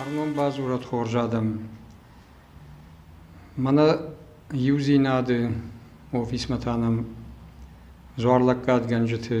Арнон бадзурӕд хорз адӕм. Мӕнӕ иудзинады офисмӕ та нӕм дзуарлӕггадгӕнджыты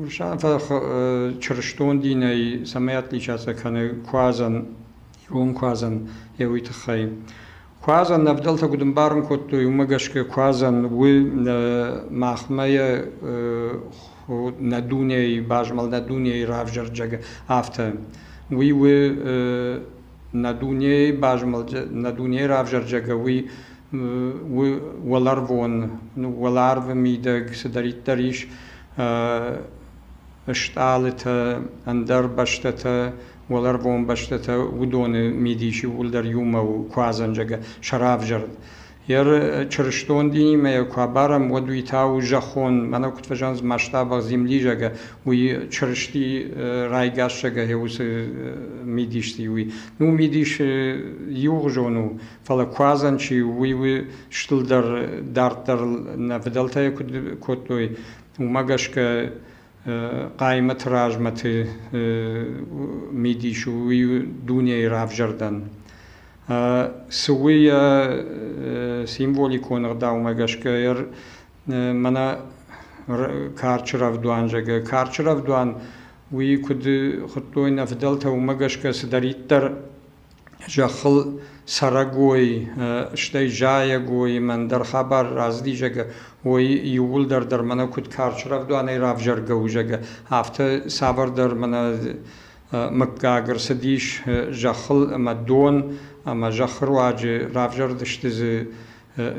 Урсанфа чырыстон динӕй цӕмӕй атличаци кӕны куадзӕн, ирон куадзӕн, йӕ уый тыххӕй. Куадзӕн ӕвдӕлтӕ куыд ӕмбарын кодтой, уымӕ гӕсгӕ куадзӕн у махмӕ йӕ нӕ дунейы, базмӕлд нӕ дунейы равзӕрджӕг, афтӕ. Уый у нӕ дунейы базмӕлд, нӕ дунейы равзӕрджӕгӕ уый у уӕларвон, уӕларвы мидӕг цыдӕриддӕр ис стъалытӕ, ӕндӕр бӕстӕтӕ, уӕларвон бӕстӕтӕ, уыдоны мидис иууылдӕр иумӕ у куадзӕнджӕгӕ, сӕ равзӕрд. Йе рчырыстон динимӕ йӕ куы абарӕм, уӕд уый та у зӕххон, мӕнӕ куыд фӕзӕгъынц масштабах землижага, уый Чырысти райгасзагӕй уыцы мидисты уый. Ну, мидис иугъуызон у, фӕлӕ куадзӕн чи у, уый у стылдӕр, дарддӕр нӕ фыдӕлтӕ куыд кодтой, уымӕ гӕсгӕ хъаймӕты размӕты мидис у уый дунейы равзӕрдӕн. Цы у йӕ символикон ӕгъдаумӕ гӕсгӕ мӕнӕ карчы рӕвдуан зӕгъы. Карчы рӕвдуан уый куыд хуыдтой нӕ фыдӕлтӕ, уымӕ гӕсгӕ цыдӕриддӕр зӕххыл цӕрӕгой, стӕй зайӕгой мӕндӕр хабар рацыди, зӕгӕ, уой иууылдӕр дӕр мӕнӕ куыд карз рӕвдуанӕй равзӕргӕ у, зӕгӕ, афтӕ цавӕрдӕр мӕнӕ мыггаг ӕрцыдис зӕххыл ӕмӕ дон ӕмӕ зӕххы руаджы равзӕрдысты дзы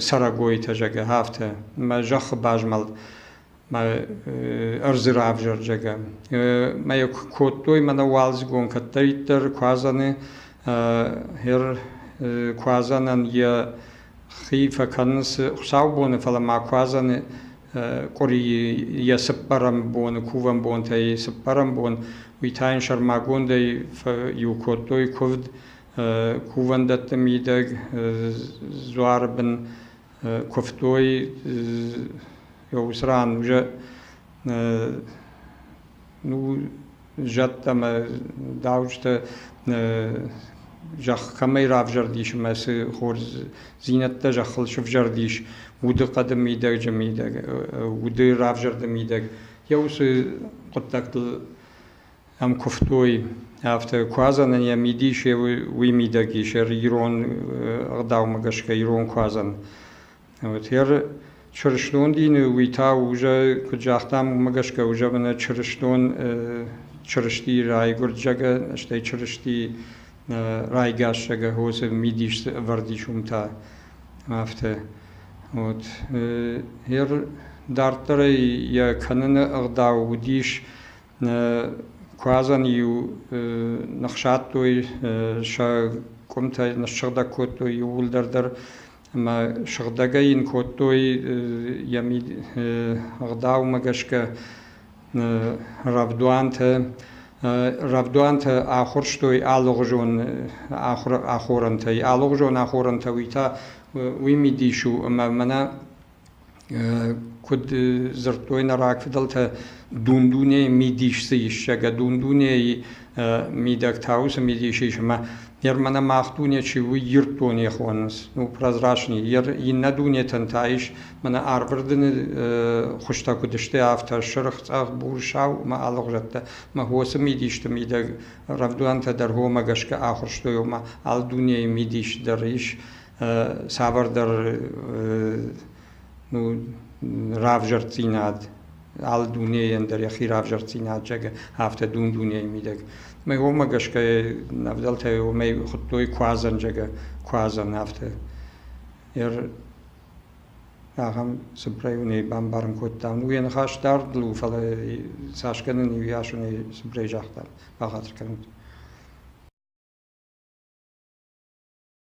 цӕрӕгойтӕ, зӕгӕ, афтӕ мӕ зӕххы базмӕлд. ма ӕрдзы равзӕрдзӕгӕ. Ма йӕ куы кодтой, мӕнӕ уалдзыгон кӕддӕриддӕр куадзӕны хер куадзӕнӕн йӕ хи фӕкӕнынц хуыцаубоны, фӕлӕ ма куадзӕны къуыри йӕ цыппӕрӕм боны, кувӕн бонтӕй цыппӕрӕм бон, уый та йын сӕрмагондӕй иу кодтой куывд кувӕндӕтты мидӕг, дзуары бын Куывтой уыцы ран уже ну зӕдтӕ ӕмӕ дауджытӕ зӕхх кӕмӕй равзӕрдис ӕмӕ цы хорздзинӕдтӕ зӕххыл сывзӕрдис, удыхъӕды мидӕджы мидӕг, уды равзӕрды мидӕг, йӕ уыцы хъуыддӕгтыл ӕм куывтой, афтӕ куадзӕнӕн йӕ мидис уый мидӕг ис, ӕр ирон ӕгъдаумӕ гӕсгӕ ирон куадзӕн. Вот ӕр чырыстон дины уый та уже, куыд загътам, уымӕ гӕсгӕ уже мӕнӕ чырыстон Чырысти райгуырдзӕгӕ, стӕй Чырысти райгасзӕгӕ хосы мидис ӕвӕрд ис уым та. Афтӕ. Вот ӕр дарддӕрӕй йӕ кӕныны ӕгъдау уыдис Куадзӕн-иу ныхсадтой сӕ къуымтӕй, ныссыгъдӕг кодтой иууылдӕр дӕр ӕмӕ сыгъдӕгӕй йын кодтой йӕ ӕгъдаумӕ гӕсгӕ рӕвдуантӕ. Рӕвдуантӕ ахуырстой алыгъуызон ахорӕнтӕй. Алыгъуызон ахорӕнтӕ уый та уый мидис у ӕмӕ мӕнӕ Куыд дзырдтой нӕ рагфыдӕлтӕ, дун-дунейы мидис дзы ис, зӕгъгӕ, дун-дунейы мидӕг та уыцы мидис ис ӕмӕ Германы мах дуне чи у, Ирд дуне хонынц, ну, прозрачный, иннӕ дунетӕн та ис мӕнӕ арвырдыны хуызтӕ куыд сты, афтӕ сырх, цъӕх, бур, сау ӕмӕ алыгъуызӕттӕ. Ӕмӕ уыцы мидисты мидӕг рӕвдуӕнтӕ дӕр уымӕ гӕсгӕ ахуырстой, ома алы дунейы мидис дӕр ис цавӕрдӕр равзӕрддзинад алы дунейӕн дӕр йӕхи равзӕрддзинад зӕгъы афтӕ дун-дунейы мидӕг уомӕ гӕсгӕ ӕвдӕлтӕй уомӕй хуыдтой куадзӕн зӕгъы куадзӕн афтӕ ахӕм цып районӕй бамбарын кодтам уе ныхас дард лу фӕлӕ цас кӕнын иу ясонӕй цыбырӕй загъта бахатыр кӕнут